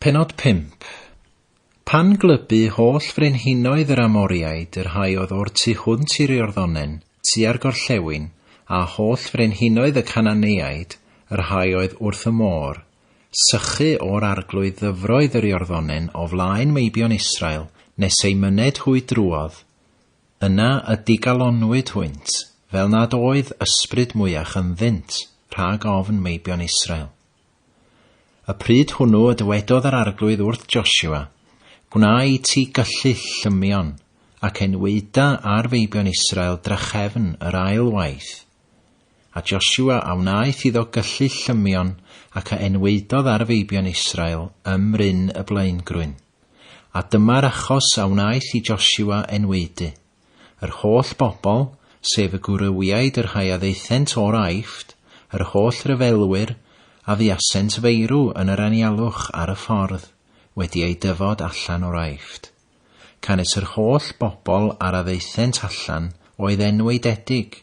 Pennod 5. Pan glybu holl frenhinoedd yr Amoriaid, y rhai oedd o'r tu hwnt i'r Iorddonen, tua'r gorllewin, a holl frenhinoedd y Cananeaid, y rhai oedd wrth y môr, sychu o'r arglwydd ddyfroedd yr Iorddonen o flaen meibion Israel nes eu myned hwy drwodd, Yna y digalonwyd hwynt, fel nad oedd ysbryd mwyach ynddynt rhag ofn meibion Israel. Y pryd hwnnw y dywedodd yr arglwydd wrth Josua, Gwna i ti gyllyll llymion, ac enwaeda ar feibion Israel drachefn yr ail waith. A Josua a wnaeth iddo gyllyll llymion ac a enwaedodd ar feibion Israel ym mryn y blaengrwyn. A dyma'r achos a wnaeth i Josua enwaedu, Yr holl bobl, sef y gwrywiaid y rhai a ddaethent o'r Aifft, yr holl ryfelwyr a fuasent feirw yn yr anialwch ar y ffordd, wedi eu dyfod allan o'r Aifft. Canys yr holl bobl ar a ddaethent allan oedd enwaededig,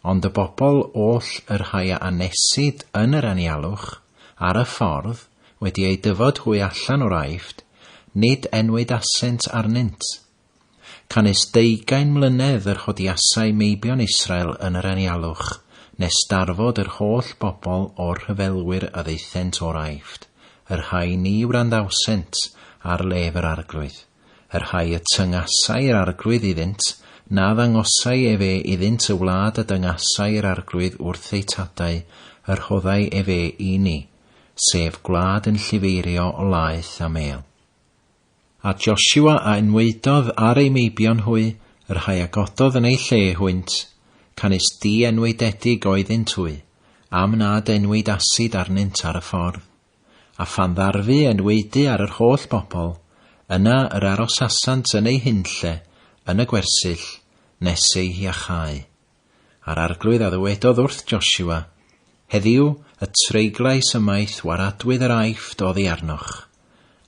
ond y bobl oll y rhai a anesid yn yr anialwch ar y ffordd, Wedi eu dyfod hwy allan o'r Aifft, nid enwyd asent arnynt. Canys deugain mlynedd yr hodiasai meibion Israel yn yr anialwch, nes darfod yr holl bobl o'r rhyfelwyr a ddaethent o'r Aifft, y rhai ni wranddawsent ar lef yr Arglwydd, y rhai y tyngasai yr Arglwydd iddynt, na ddangosai efe iddynt y wlad a dyngasai yr Arglwydd wrth eu tadau, y rhoddai efe i ni. sef gwlad yn llifeirio o laeth a mêl. A Joshua a enwaedodd ar ei meibion hwy, y rhai a gododd yn ei lle hwynt, canys di-enwaededig oeddynt hwy, am nad enwaed asid arnynt ar y ffordd. A phan ddarfu enwaedu ar yr holl bobl, yna yr arosasant yn eu hunlle yn y gwersyll nes eu hiachau. a'r Arglwydd a ddywedodd wrth Josua, Heddiw y treiglais ymaith waradwydd yr Aifft oddi arnoch.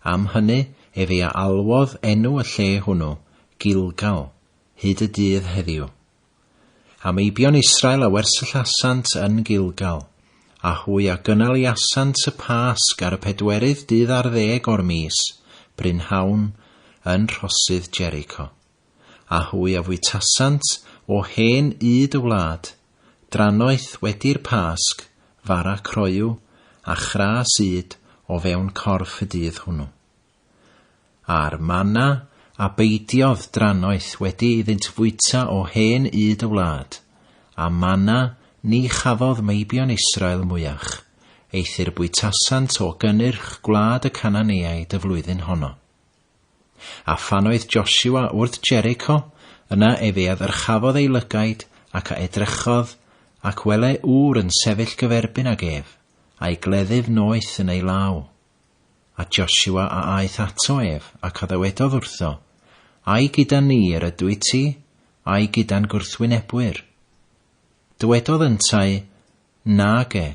Am hynny efe a alwodd enw y lle hwnnw, Gilgal, hyd y dydd heddiw. A meibion Israel a wersyllasant yn Gilgal, a hwy a gynaliasant y Pasg ar y pedwerydd dydd ar ddeg o'r mis, brynhawn, yn rhosydd Jericho. a hwy a fwytasant o hen ŷd y wlad, drannoeth wedi'r Pasg, fara croyw a chras ŷd o fewn corff y dydd hwnnw. A'r mana a beidiodd drannoeth wedi iddynt fwyta o hen ŷd y wlad, a mana ni chafodd meibion Israel mwyach, eithr bwytasant o gynnyrch gwlad y Cananeaid y flwyddyn honno. A phan oedd Josua wrth Jericho, yna ef ei addyrchafodd ei lygaid, ac a edrychodd, ac wele ŵr yn sefyll gyferbyn ag ef, a'i gleddyf noeth yn ei law. A Josua a aeth ato ef, ac a ddywedodd wrtho, Ai gyda ni yr ydwyt ti, ai gyda'n gwrthwynebwyr? Dywedodd yntau, Nage,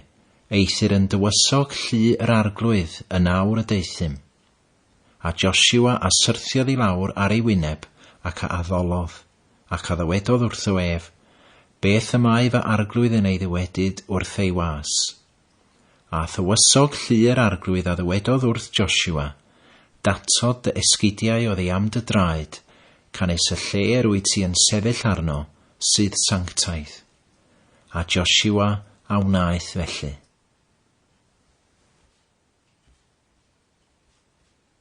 eithr yn dywysog llu yr arglwydd yn awr y deuthum. A Josua a syrthiodd i lawr ar ei wyneb, ac a addolodd, ac a ddywedodd wrtho ef, Beth y mae fy arglwydd yn ei ddywedyd wrth ei was? A thywysog llu yr arglwydd a ddywedodd wrth Josua, Datod dy esgidiau oddi am dy draed, canys y lle yr wyt ti yn sefyll arno sydd sanctaidd. A Josua a wnaeth felly.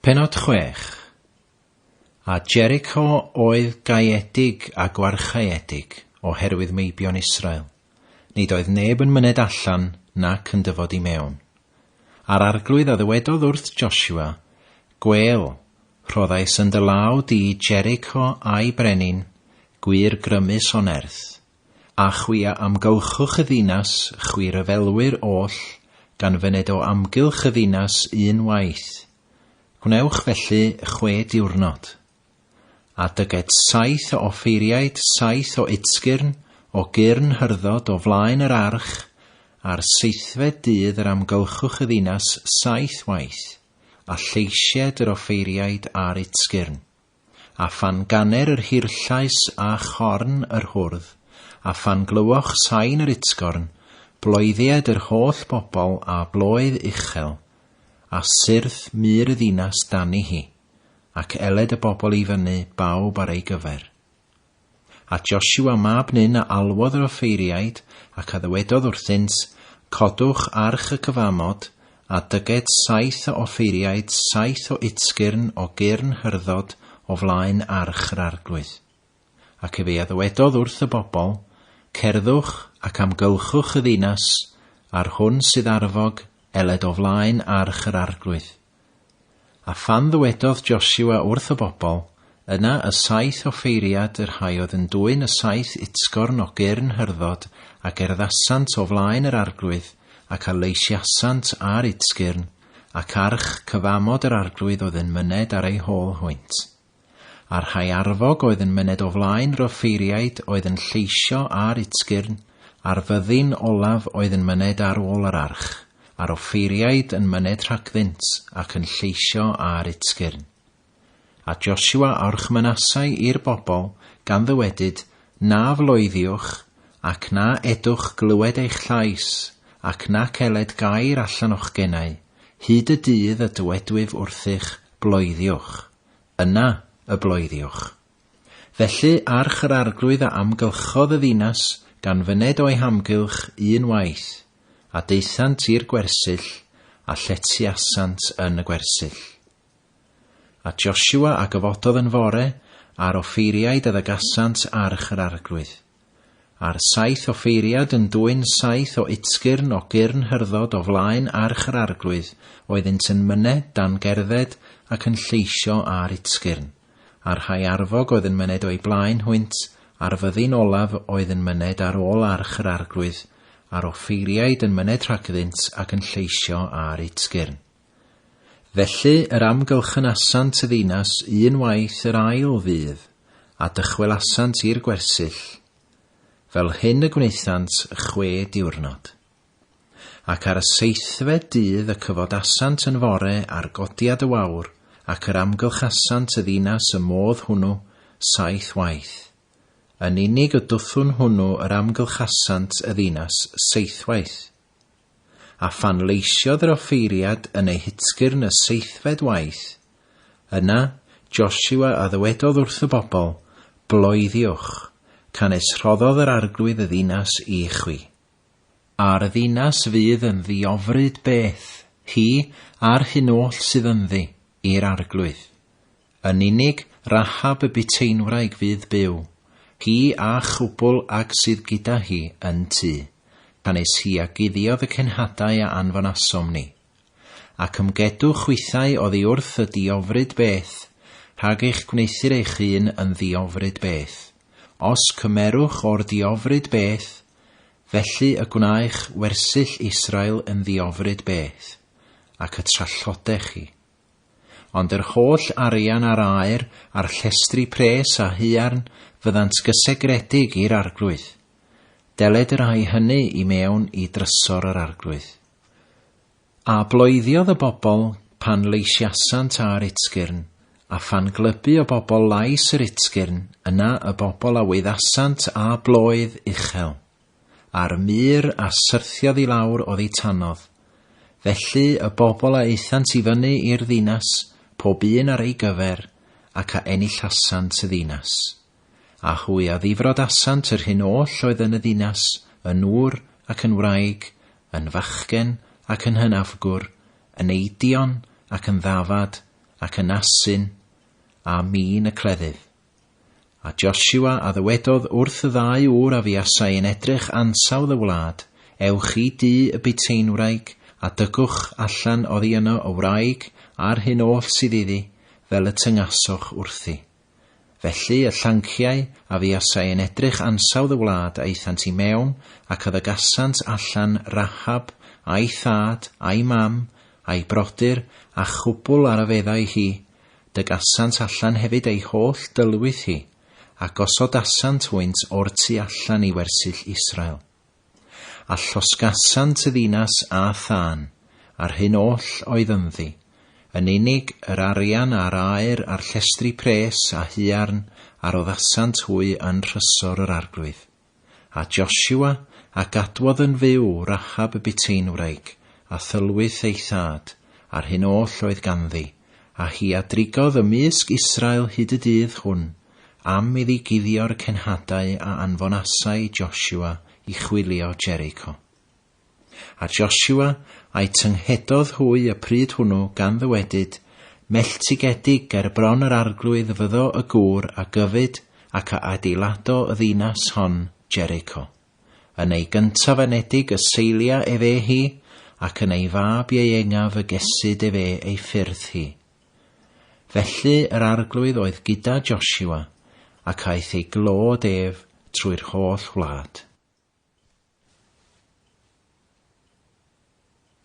Pennod chwech. A Jericho oedd gaeedig a gwarchaeedig o herwydd meibion Israel, nid oedd neb yn myned allan nac yn dyfod i mewn. A'r arglwydd a ddywedodd wrth Joshua, Gwêl, rhoddais yn dy law di Jericho a'i brenin, gwir grymus o nerth, A chwi a amgylchwch y ddinas, chwi ryfelwyr oll, gan fyned o amgylch y ddinas un waith. Gwnewch felly chwe diwrnod. A dyged saith o offeiriaid, saith o udsgyrn, o gyrn hyrddod, o flaen yr arch, ar seithfed dydd yr amgylchwch y ddinas saith waith, a lleisied yr offeiriaid a'r udsgyrn. A phan ganer yr hirllais a chorn yr hwrdd, a phan glywoch sain yr utgorn, bloeddied yr holl bobl â bloedd uchel, a syrth mur y ddinas dani hi, ac eled y bobl i fyny bawb ar ei gyfer. A Josua mab Nun a alwodd yr offeiriaid, ac a ddywedodd wrthynt, Codwch arch y cyfamod, a dyged saith o offeiriaid saith o utsgyrn o gyrn hyrddod o flaen arch yr Arglwydd. Ac efe a ddywedodd wrth y bobl, Cerddwch ac amgylchwch y ddinas, a'r hwn sydd arfog, eled o flaen arch yr Arglwydd. A phan ddywedodd Josua wrth y bobl, Yna y saith offeiriad y rhai oedd yn dwyn y saith utsgorn o gyrn hyrddod, a gerddasant o flaen yr arglwydd, ac a leisiasant ar utsgyrn, ac arch cyfamod yr arglwydd oedd yn myned ar ei hôl hwynt. A'r rhai arfog oedd yn myned o flaen yr offeiriaid oedd yn lleisio ar Utsgyrn, a'r fyddin olaf oedd yn myned ar ôl yr arch, a'r offeiriaid yn myned rhagddynt ac yn lleisio ar Utsgyrn. A Josua awrch Manassai i'r bobl, gan ddywedyd, Na floeddiwch, ac na edwch glywed eich llais, ac nac eled gair allan o'ch genau, hyd y dydd y dywedwyf wrthych, Bloeddiwch. Yna y bloeddiwch. Felly arch yr Arglwydd a amgylchodd y ddinas gan fyned o'i hamgylch un waith, a daethant i'r gwersyll, a lletyasant yn y gwersyll. A Josua a gyfododd yn fore, a'r offeiriaid a ddygasant arch yr Arglwydd. A'r saith offeiriad yn dwyn saith o utsgyrn o gyrn hyrddod o flaen arch yr Arglwydd, oeddynt yn mynne dan gerdded ac yn lleisio â'r utsgyrn. A rhai arfog oedd yn myned o'u blaen hwynt, a'r fyddin olaf oedd yn myned ar ôl arch yr Arglwydd, a'r offeiriaid yn myned rhagddynt ac yn lleisio â'r utsgyrn. Felly yr amgylchynasant y ddinas un waith yr ail ddydd, a dychwelasant i'r gwersyll, fel hyn y gwnaethant chwe diwrnod. Ac ar y seithfed dydd y cyfodasant yn fore ar godiad y wawr, ac yr amgylchasant y ddinas y modd hwnnw saith waith, yn unig y dwthwn hwnnw yr amgylchasant y ddinas seithwaith. a phan leisiodd yr offeiriad yn ei hutsgyrn y seithfed waith, yna Josua a ddywedodd wrth y bobl, Bloeddiwch, canys rhoddodd yr Arglwydd y ddinas i chwi. A'r ddinas fydd yn ddiofryd beth, hi a'r hyn oll sydd ynddi, i'r Arglwydd. Yn unig Rahab y buteinwraig fydd byw, hi a chwbl ag sydd gyda hi yn tŷ, pan es hi a guddiodd y cenhadau a anfonasom ni. Ac ymgedwch chwithau oddi wrth y ddiofryd beth, rhag eich gwneuthur eich hun yn ddiofryd beth. Os cymerwch o'r diofryd beth, felly y gwnaech wersyll Israel yn ddiofryd beth, ac y trallodech chi. Ond yr holl arian a'r aer a'r llestri pres a haearn fyddant gysegredig i'r Arglwydd. Deled yr ai hynny i mewn i drysor yr Arglwydd. A bloeddiodd y bobl pan leisiasant ar Utsgyrn, a phan glybu o bobl lais yr Utsgyrn, yna y bobl a wyddasant â bloedd uchel. a'r mur a syrthiodd i lawr oddi tanodd. Felly y bobl a aethant i fyny i'r ddinas, pob un ar ei gyfer, ac a enillasant y ddinas. A hwy a ddifrodasant yr hyn oll oedd yn y ddinas, yn ŵr ac yn wraig, yn fachgen ac yn hynafgwr, yn eidion ac yn ddafad, ac yn asyn, a min y cleddyf. A Josua a ddywedodd wrth y ddau ŵr a fuasai yn edrych ansawdd y wlad, Ewch i dŷ y buteinwraig, a dygwch allan oddi yno y wraig a'r hyn oll sydd iddi, fel y tyngasoch wrthi. Felly y llanciau a fuasai yn edrych ansawdd y wlad aethant i mewn, ac a ddygasant allan Rahab, a'i thad, a'i mam, a'i brodyr, a chwbl ar a feddai hi, Dygasant allan hefyd ei holl dylwyth hi, a gosodasant hwynt o'r tu allan i wersyll Israel. A llosgasant y ddinas â thân, a'r hyn oll oedd ynddi, yn unig yr arian a'r aur a'r llestri pres a huarn a roddasant hwy yn nhrysor yr arglwydd. A Josua, a gadwodd yn fyw Rachab y Buteinwraig, a thylwyth ei thad, a'r hyn oll oedd ganddi, a hi a drigodd ymysg Israel hyd y dydd hwn, am iddi guddio'r cenhadau a anfonasai Josua i chwilio Jericho. A Joshua, a'i tynghedodd hwy y pryd hwnnw, gan ddywedyd, Melltigedig ger bron yr arglwydd fyddo y gŵr a gyfyd ac a adeilado y ddinas hon, Jericho. Yn ei gyntaf anedig y seilia ef e hi, ac yn ei fab ieuengaf y gesid ef e ei ffyrdd hi. Felly yr arglwydd oedd gyda Joshua, ac aeth ei glod ef trwy'r holl wlad.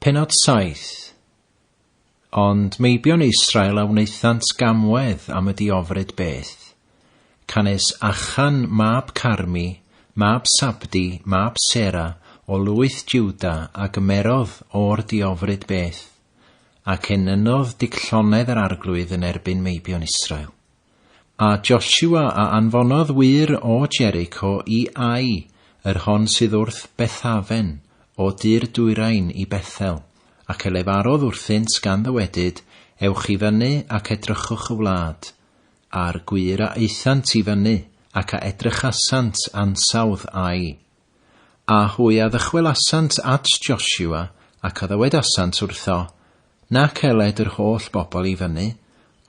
Pennod 7 Ond meibion Israel a wnaethant gamwedd am y diofryd beth, canys Achan mab Carmi, mab Sabdi, mab Sera, o lwyth Juda, a gymerodd o'r diofryd beth, ac enynodd dic llonnedd yr arglwydd yn erbyn meibion Israel. A Joshua a anfonodd wŷr o Jericho i Ai, yr hon sydd wrth Bethaven, o dir dwyrain i Bethel, ac e lefarodd wrthynt gan ddywedyd, Ewch i fyny ac edrychwch y wlad. A'r gwŷr a aethant i fyny, ac a edrychasant ansawdd Ai, A hwy a ddychwelasant at Josua, ac a ddywedasant wrtho, Nac eled yr holl bobl i fyny,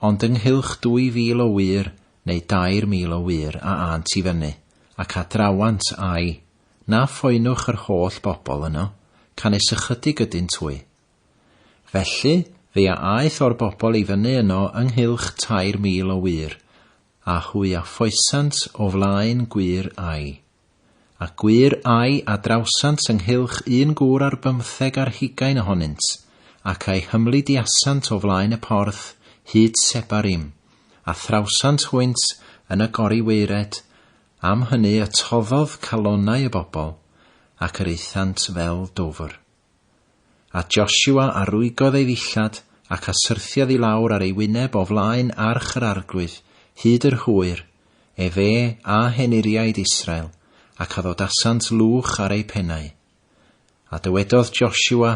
ond ynghylch dwy fil o wŷr, neu dair mil o wŷr a ânt i fyny, ac a drawant â'i, na phoenwch yr holl bobl yno, canys ychydig ydynt hwy. Felly, fe a aeth o'r bobl i fyny yno ynghylch tair mil o wŷr, a hwy a ffoesant o flaen gwŷr ai. A gwir ai a drawsant ynghylch un gŵr ar bymtheg ar hugain ohonynt, ac a'i hymlidiasant o flaen y porth hyd Sebarim, a thrawsant hwynt yn y gori waered, am hynny y toddodd calonnau y bobl, ac yr aethant fel dwfr. A Josua a rwygodd ei ddillad, ac a syrthiodd i lawr ar ei wyneb o flaen arch yr Arglwydd, hyd yr hwyr, efe a henuriaid Israel, ac a ddodasant lwch ar eu pennau. A dywedodd Josua,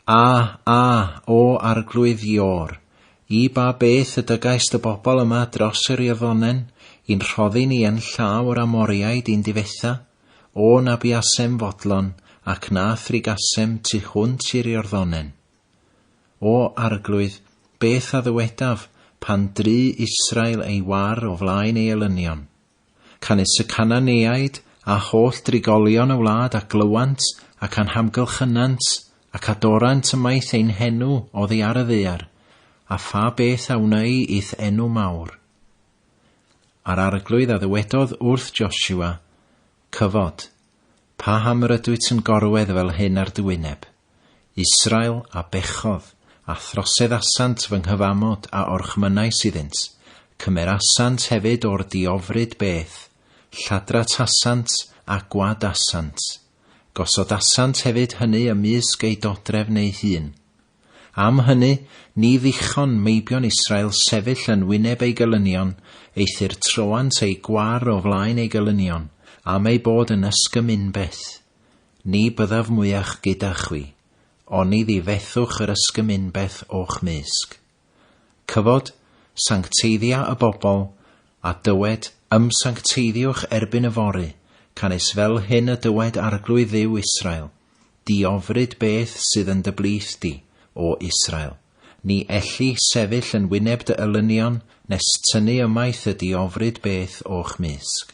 A, a, O Arglwydd Iôr, i ba beth y dygais dy bobl yma dros yr Iorddonen, i'n rhoddi ni yn llaw yr Amoriaid i'n difetha? O na buasem fodlon ac na thrigasem tu hwnt i'r Iorddonen. O, Arglwydd, beth a ddywedaf pan dry Israel ei war o flaen ei elynion? Canys y Cananeaid a holl drigolion y wlad a glywant ac anhamgylchynant ac adorant ymaith ein henw oddi ar y ddaear, a pha beth a wnei i'th enw mawr? A'r Arglwydd a ddywedodd wrth Josua, Cyfod, paham yr ydwyt yn gorwedd fel hyn ar dy wyneb? Israel a bechodd, a throseddasant fy nghyfamod a orchmynnais iddynt, cymerasant hefyd o'r diofryd beth, lladratasant a gwadasant, gosodasant hefyd hynny ymysg eu dodrefn eu hun. Am hynny, ni ddichon meibion Israel sefyll yn wyneb ei gelynion, eithr troant eu gwar o flaen ei gelynion, am eu bod yn ysgym unbeth. Ni byddaf mwyach gyda chwi, oni ddi fethwch yr ysgym unbeth o'ch mysg. Cyfod, sancteiddia y bobl, a dywed, Ymsancteiddiwch erbyn yfory, canys fel hyn y dywed Arglwydd Dduw Israel, Diofryd beth sydd yn dy blith di, O Israel. Ni elli sefyll yn wyneb dy elynion, nes tynnu ymaith y diofryd beth o'ch mysg.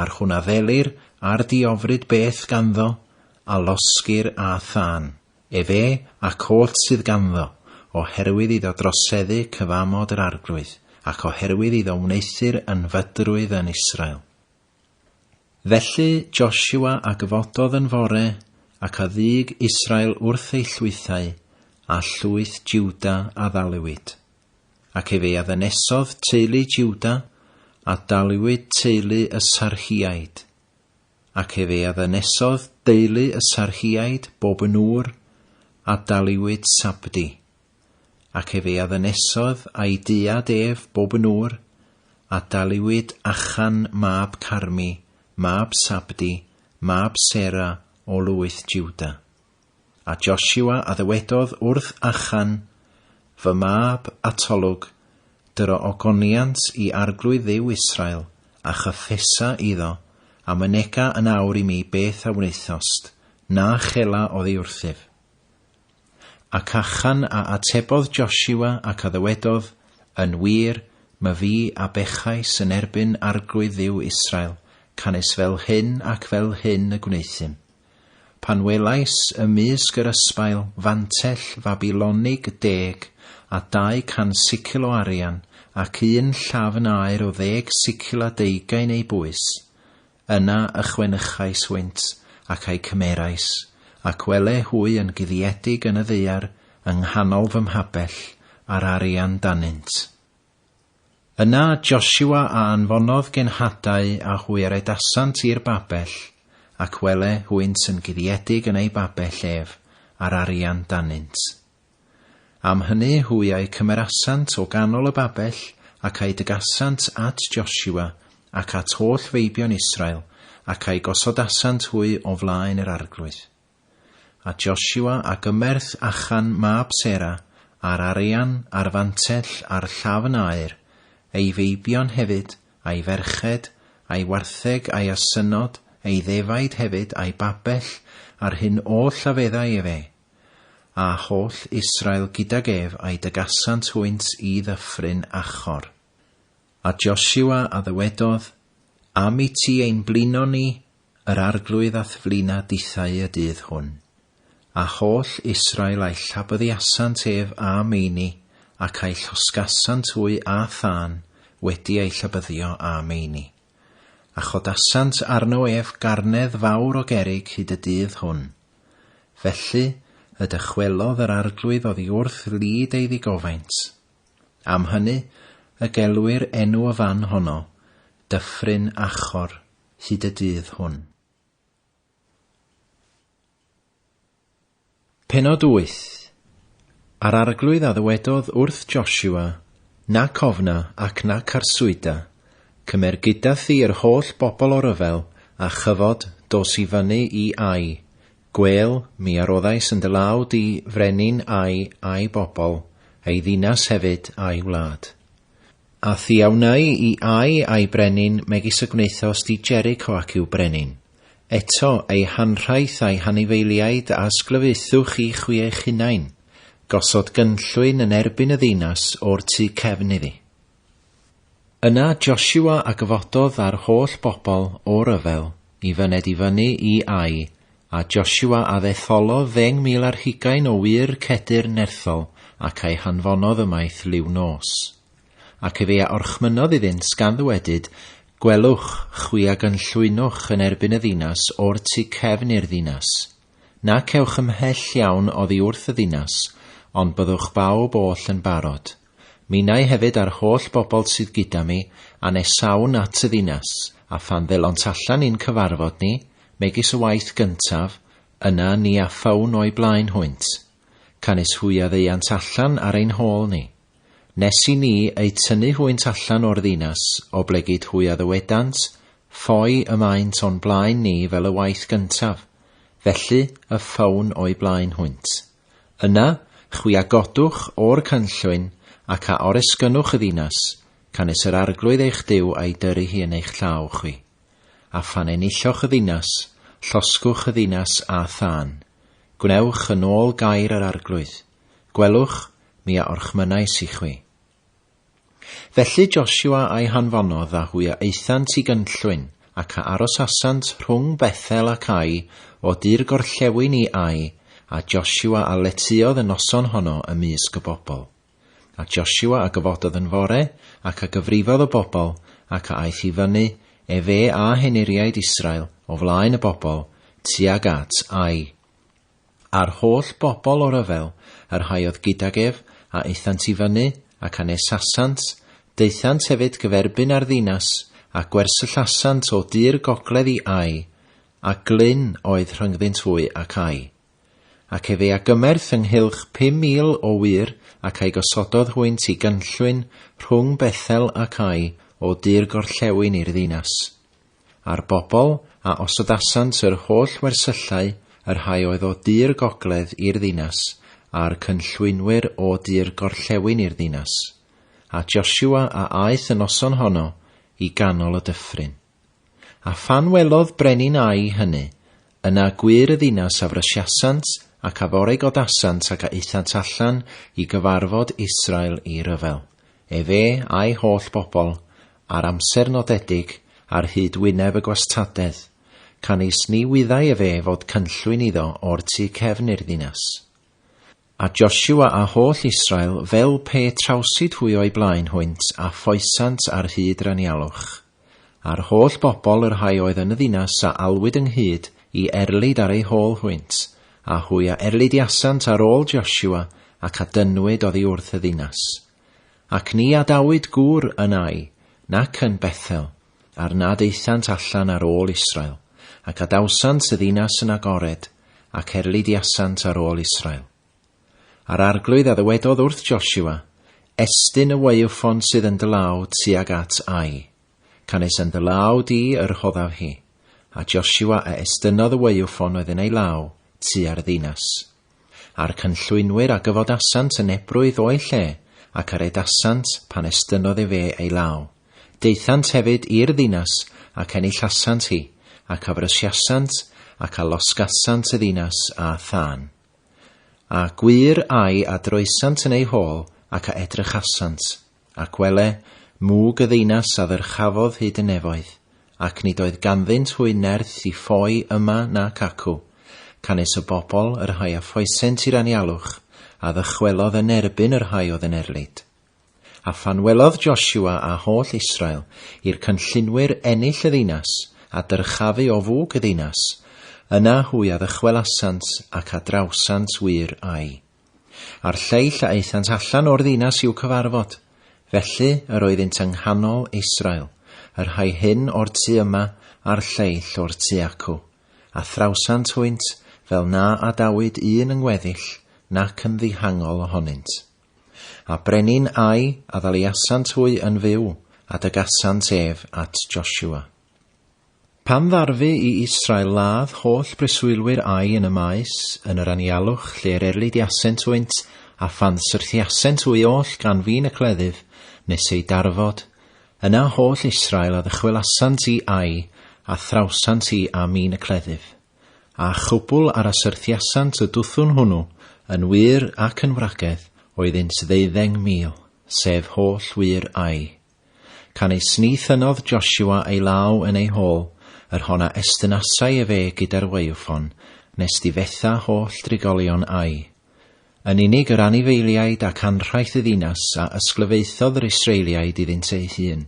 Ar hwn addelir ar diofryd beth ganddo, a losgir â thân, efe ac oll sydd ganddo, oherwydd iddo droseddu cyfamod yr Arglwydd, ac oherwydd iddo wneuthur yn fydrwydd yn Israel. Felly Josua a gyfododd yn fore, ac a ddug Israel wrth ei llwythau, a llwyth Jwda a ddaliwyd. Ac efe a ddynesodd teulu Jwda, a daliwyd teulu y Sarhiaid. Ac efe a ddynesodd deulu y Sarhiaid bob yn ŵr, a daliwyd Sabdi. Ac efe a ddynesodd a'i diad ef bob yn ŵr, a daliwyd Achan mab Carmi, mab Sabdi, mab Sera o lwyth Jwda. A Josua a ddywedodd wrth Achan, Fy mab, atolwg, dur o ogoniant i Arglwydd Dduw Israel, a chyffesa iddo, a mynega yn awr i mi beth a wnaethost, na chela oddi wrthyf. Ac Achan a atebodd Josua ac a ddywedodd, Yn wir, my fi a bechais yn erbyn Arglwydd Dduw Israel, canys fel hyn ac fel hyn y gwnaethum. Pan welais ymysg yr ysbail fantell Fabilonig deg a dau can sicl o arian ac un llafn aur o ddeg sicl a deugain ei bwys, yna ychwenychais hwynt ac a'u cymerais, ac wele hwy yn guddiedig yn y ddaear yng nghanol fy mhabell, a'r arian danynt. Yna Josua a anfonodd genhadau a hwy a redasant i'r babell, ac wele hwynt yn guddiedig yn eu babell ef, a'r arian danynt. Am hynny hwy a'u cymerasant o ganol y babell, ac a'u dygasant at Josua, ac at holl feibion Israel, ac a'u gosodasant hwy o flaen yr arglwydd. A Josua a gymerth Achan mab Sera, a'r arian, a'r fantell, a'r llafn aur, ei feibion hefyd, a'i ferched, a'i wartheg, a'i asynod, ei ddefaid hefyd, a'i babell, a'r hyn oll a feddai efe. A holl Israel gydag ef a'i dygasant hwynt i ddyffryn Achor. A Josua a ddywedodd, Am i ti ein blino ni, Yr Arglwydd a'th flaena dithau y dydd hwn, a holl Israel a'i llabyddiasant ef â meini, ac a'i llosgasant wy â thân, wedi ei llabyddio â meini. A chodasant arno ef garnedd fawr o gerrig hyd y dydd hwn. Felly y dychwelodd yr Arglwydd oddi wrth lid ei ddigofaint. Am hynny y gelwir enw y fan honno, Dyffryn Achor, hyd y dydd hwn. Penod 8 A'r arglwydd a ddywedodd wrth Joshua, Nac ofna ac nac arswyda, cymer gyda thi yr holl bobl o ryfel a chyfod dos i fyny i Ai, gwêl, mi aroddais yn dy law di frenin Ai a'i bobl, ei ddinas hefyd a'i wlad. A thi a wnai i ai a'i brenin, megis y gwnaethos di Jericho ac i'w brenin. Eto, ei hanrhaith a'i hanifeiliaid a ysglyfaethu chi chwi eich hunain. Gosod gynllwyn yn erbyn y ddinas o'r tu cefn iddi. Yna Josua a gyfododd â'r holl bobl o ryfel Y fyned i fyny i Ai, a Josua a ddetholodd ddeng mil ar hugain o wŷr Cedr nerthol, ac a'i hanfonodd ymaith liw nos. Ac efe a orchmynnodd iddynt, gan ddywedyd, Gwelwch, chwi a gynllwynwch yn erbyn y ddinas o'r tu cefn i'r ddinas. Nac ewch ymhell iawn oddi wrth y ddinas, ond byddwch bawb oll yn barod. Minnau hefyd a'r holl bobl sydd gyda mi, a nesawn at y ddinas, a phan ddelont allan i'n cyfarfod ni, megis y waith gyntaf, yna ni afawn o'i blaen hwynt. Canys hwy a ddeuant allan ar ein hôl ni. Nes i ni eu tynnu hwynt allan o'r ddinas, oblegid hwy a ddywedant, Ffoi y maent o'n blaen ni fel y waith gyntaf, felly y ffawn o'i blaen hwynt. Yna, chwi a godwch o'r canllwyn, ac a oresgynnwch y ddinas, canys yr Arglwydd eich Duw a'i dyrru hi yn eich llaw chwi. A phan enilloch y ddinas, llosgwch y ddinas â thân. Gwnewch yn ôl gair yr Arglwydd. Gwelwch, mi a orchmynnais i chwi. Felly Josua a'i hanfonodd a hwy a aethant i gynllwyn, ac a arosasant rhwng Bethel ac Ai, o dir gorllewin i Ai, a Josua a letyodd y noson honno ym mysg y bobl. A Josua a gyfododd yn fore, ac a gyfrifodd y bobl, ac a aeth i fyny, efe â henuriaid Israel, o flaen y bobl, tuag at Ai. A'r holl bobl o ryfel y rhai oedd gydag ef, a aethant i fyny, ac anesasant, daethant hefyd gyferbyn â'r ddinas, a gwersyllasant o du'r gogledd i Ai, a glyn oedd rhyngddynt fwy ac Ai. Ac efe a gymerth ynghylch pum mil o wŷr, ac a'i gosododd hwynt i gynllwyn rhwng Bethel ac Ai, o du'r gorllewin i'r ddinas. a'r bobl a osodasant yr holl wersyllau, y rhai oedd o du'r gogledd i'r ddinas, a'r cynllwynwyr o du'r gorllewin i'r ddinas, a Josua a aeth y noson honno i ganol y dyffryn. A phan welodd brenin Ai hynny, yna gwyr y ddinas a frysiasant ac a foregodasant ac a aethant allan i gyfarfod Israel i ryfel, efe a'i holl bobl, ar amser nodedig ar hyd wyneb y gwastadedd, canys ni wyddai efe fod cynllwyn iddo o'r tu cefn i'r ddinas. A Josua a holl Israel fel pe trawsid hwy o'i blaen hwynt a foesant ar hyd Ranialwch. A'r holl bobl y rhai oedd yn y ddinas a alwyd ynghyd i erlid ar eu hôl hwynt, a hwy a erlidiasant ar ôl Josua, ac a dynnwyd oddi wrth y ddinas. Ac ni adawyd gŵr yn Ai, nac yn Bethel, ar nad aethant allan ar ôl Israel, ac adawsant y ddinas yn agored, ac erlidiasant ar ôl Israel. A'r arglwydd a ddywedodd wrth Josua, Estyn y waywffon sydd yn dy law tuag at Ai. Canys yn dy law di y rhoddaf hi. A Josua a estynodd y waywffon oedd yn ei law tua'r ddinas. A'r cynllwynwyr a gyfodasant yn ebrwydd o'i lle, ac a redasant pan estynnodd efe ei law. Daethant hefyd i'r ddinas, ac enillasant hi, ac a frysiasant, ac a losgasant y ddinas â thân. A gwir ai a droesant yn ei hôl, ac a edrychasant, Ac wele, mwg y ddeinas a ddyrchafodd hyd y nefoedd, ac nid oedd ganddynt hwy nerth i ffoi yma nac acw, canys y bobl, y rhai a ffoesent i'r anialwch, a ddychwelodd yn erbyn y rhai oedd yn erlid. A phan welodd Josua a holl Israel i'r cynllunwyr ennill y ddeinas, a dyrchafu o fwg y ddeinas, yna hwy a ddychwelasant ac a drawsant wir â'i. a'r lleill a aethant allan o'r ddinas i'w cyfarfod. Felly yr oeddynt yng nghanol Israel, y rhai hyn o'r tu yma a'r lleill o'r tu acw, a thrawsant hwynt fel na adawyd un yn weddill nac yn ddihangol ohonynt. A brenin Ai a ddaliasant hwy yn fyw, a dygasant ef at Josua. Pan ddarfu i Israel ladd holl breswylwyr ai yn y maes, yn yr anialwch, lle'r erlidiasent wynt, a phan syrthiasent hwy oll gan fin y cleddyf, nes eu darfod, yna holl Israel a ddychwelasant i ai, a thrawsant i a min y cleddyf. A chwbl ar a syrthiasant y dwthwn hwnnw, yn wŷr ac yn wragedd, oeddynt ddeuddeng mil, sef holl wŷr ai. Canys ni thynnodd Josua ei law yn ei hol, yr hon a estynasai ef e gyda'r waywffon, nes difetha holl drigolion Ai. Yn unig yr anifeiliaid ac anrhaith y ddinas a ysglyfaethodd yr Israeliaid iddynt eu hun,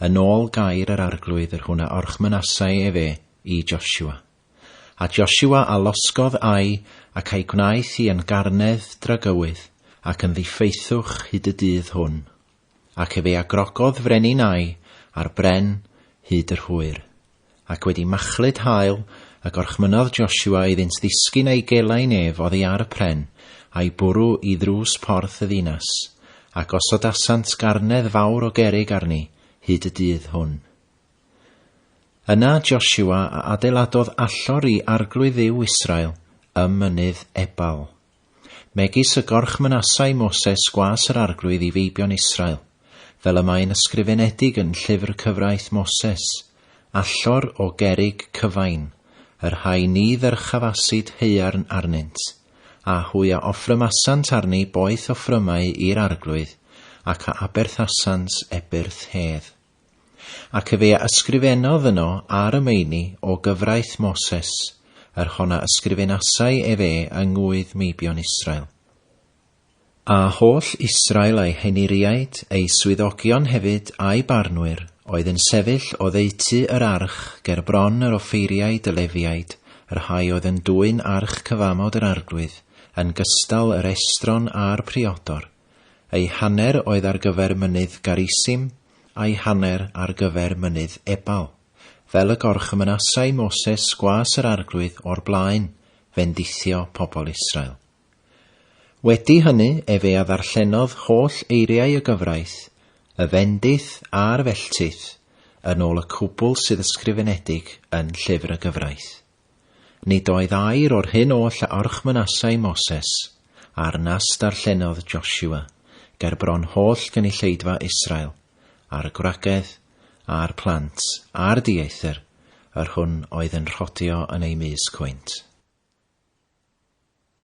yn ôl gair yr Arglwydd yr hwn a orchmynasai ef e i Josua. A Josua a losgodd Ai, ac a'i gwnaeth hi yn garnedd dragywydd, ac yn ddiffeithwch hyd y dydd hwn. Ac efe a grogodd frenin Ai ar bren hyd yr hwyr. Ac wedi machlud haul, y gorchmynnodd Joshua iddynt ddisgyn a'i gelai'n ef oddi ar y pren, a'i bwrw i ddrws porth y ddinas, a gosodasant garnedd fawr o gerrig arni hyd y dydd hwn. Yna Joshua a adeiladodd allor i arglwydd Dduw Israel ym mynydd Ebal. megis y gorchmynasai Moses gwas yr Arglwydd i feibion Israel, fel y mae'n ysgrifenedig yn Llyfr Cyfraith Moses, Allor o gerrig cyfain, yr rhai ni ddyrchafasid haearn arnynt, a hwy a offrymasant arni boeth offrymau i'r Arglwydd, ac a aberthasant ebyrth hedd. Ac fe a ysgrifennodd yno ar y meini o gyfraith Moses, yr hon a ysgrifenasai ef e yng ngŵydd meibion Israel. A holl Israel a'i heniriaid, ei swyddogion hefyd, a'i barnwyr, oedd yn sefyll oddeutu yr arch, ger bron yr offeiriaid y Lefiaid, y rhai oedd yn dwyn arch cyfamod yr Arglwydd, yn gystal yr estron a'r priodor, Ei hanner oedd ar gyfer mynydd Garisim, a'i hanner ar gyfer mynydd Ebal, fel y gorchymynasai Moses gwas yr Arglwydd o'r blaen, fendithio pobl Israel. Wedi hynny efe a ddarllenodd holl eiriau y gyfraith, y fendith a'r felltith, yn ôl y cwbl sydd ysgrifenedig yn Llyfr y Gyfraith. Nid oedd air o'r hyn oll a orchmynasai Moses, a'r nas darllenodd Joshua, ger bron holl gynulleidfa Israel, a'r gwragedd, a'r plant, a'r dieithr, yr hwn oedd yn rhodio yn eu mysg hwynt.